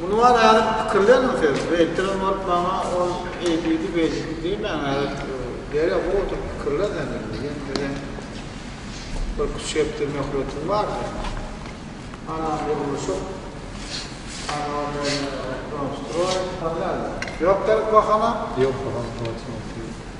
Muny bar ädip pikirleniň siz. Beýtdirem bolup maňa ol eýdidi, beýdidi diýmäň ädip. Derýa gowy oturyp pikirle sen indi. Ýene biziň bir üç hepde möhletiň bar seň. Ana gurluşyk. Ana Doňstroý. Ýok gerek bahana. Ýok bahana.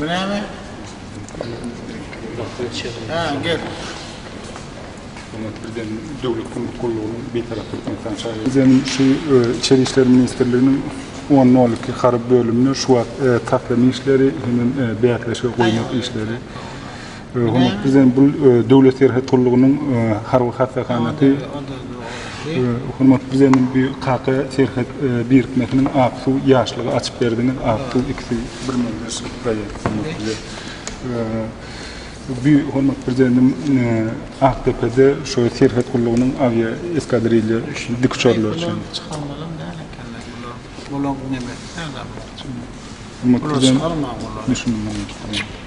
Bu näme? Ha, gel. Hökümet birden döwlet gümrük gullugynyň Bitaraplyk ynsan çägi. Biziň şu Içeri işler ministrliginiň on nol iki harby bölüminde şu wagt taslama işleri hemem bäsleşige goýmak işleri. Hormatly Prezident, bu Döwlet serhet gullugynyň harby hassahanasy. Hormatly Prezidentimiz bu Kaka serhet birikmesiniň Aksuw ýaşlygy açyp berdiňiz. Aksuw ikisi bir menzil proýekt hormatly Prezident. Bu hormatly Prezidentim Akdepede şu serhet gullugynyň awiaeskadrilýa üçin dikuçarlar üçin. Çykalmalam däl ekenler bular. Bularyň nemesi nädäl bolupdyr? Bular çykalman bular.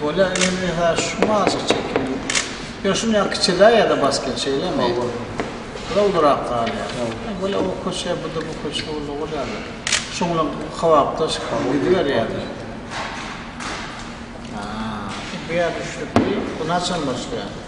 Bolýa indi ha şumy aşyk çekýän. Ýöne şuny ýa kiçeläý ýa-da bas gel şeýlemi? Bula ulurak galýar. Bolýa o köçä bu-da bu köçä uly bolýar. Şuň bilen kybapdaş gidiberýärler. Ha. Bu ýerde üçlükli bu naçe başlaýar?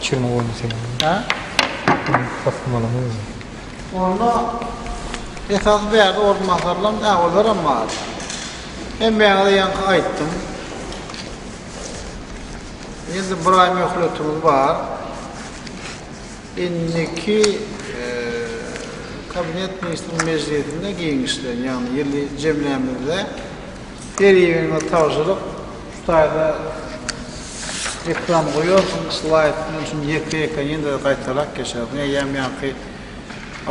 Çirme goýma sen onu. Hä? Taslamalaňy goý. Onda esasy bärde orunbasarlaryň äwellerem bar. Hemmäňize ýaňky aýtdym. Indi bir aý möhletimiz bar. Indiki Kabinet ministriniň mejlisinde giňişleýin, ýagny ýyly jemlämizde Her ýeriňe tabşyryk şu taýda ekran goýarsyň slaýd men şuny ýeke ýeke ýene-de gaýtarak geçerdim eýýäm ýaňky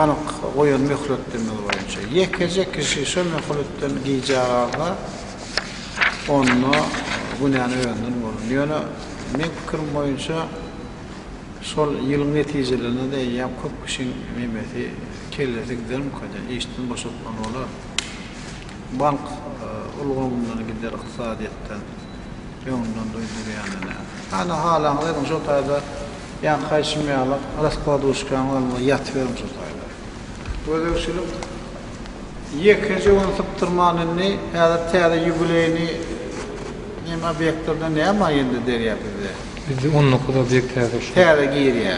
anyk goýan möhletdemiz boýunça ýekeje kişi şo möhletden gijä galsa onda günäni özünden bolan ýöne meň pikirim boýunça şol ýylyň netijelerinde-de eýýäm köp kişiň memesi kellesi gidermikada işden boşatmaly bolar. Bank ulgamyndan gider ykdysadyýetde öňünden duýdurýany näme? Hany halaňyz ediň şo taýda ýa haýşym ýalak raskladuşkaň alňyz ýatyberiň şo taýda. Gözegçilik ýekeje gün sypdyrman indi häzir täze ýubileýni neme obýektlerden näme indi derýa bizde. Bizde on dokuz obýekt häzir şu. Täze girýä.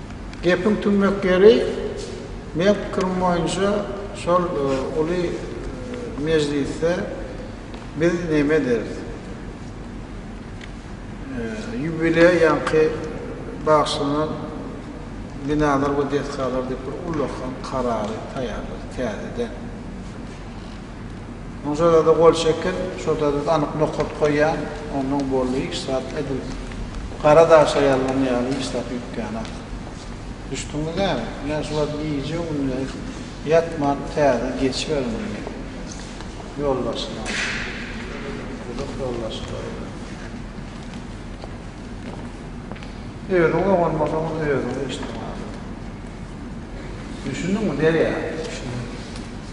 Gepiň tümmek ýeri, meň pikirim boýunça şol uly mejlisde biz näme ederis? Ýubileýa ýaňky bagyşlanan binalar we desgalar diýip bir ullakan karary taýýarlarys täzeden. Oň şodada gol çekip, şodada anyk nokat goýýan, onnoň boldy hiç zat edil gara daşa ýazlan ýaly hiç zat ýükýänok. Düşdüňmi näme? Ine şu wagt gije-gündiz ýatman täze geçiberin diýýä. Ýolbaşçyny alyp. Guduk ýolbaşçy goýuň. Özüň oňarmasaň özüňe işdäňok. Düşündiňmi derýa? Düşündim.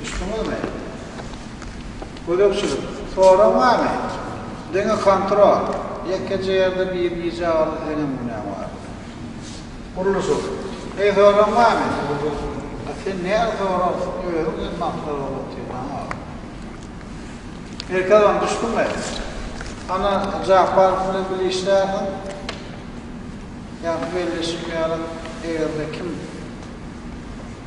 Düşdüňizmi? Gözegçilik, Sorag barmy? Diňe kontrol, Ýekeje ýerde birnije agza senem günäň bar. Gurluşyk, Heý sorag barmy? A sen nädip sorarsyň, özüň hem maksat bolup otyrlaň agam. Merkez on, Düşdüňmi? Ana Japarow bilen bile işlärsiň? Ýa bu belleşik ýaly, eger-de kim.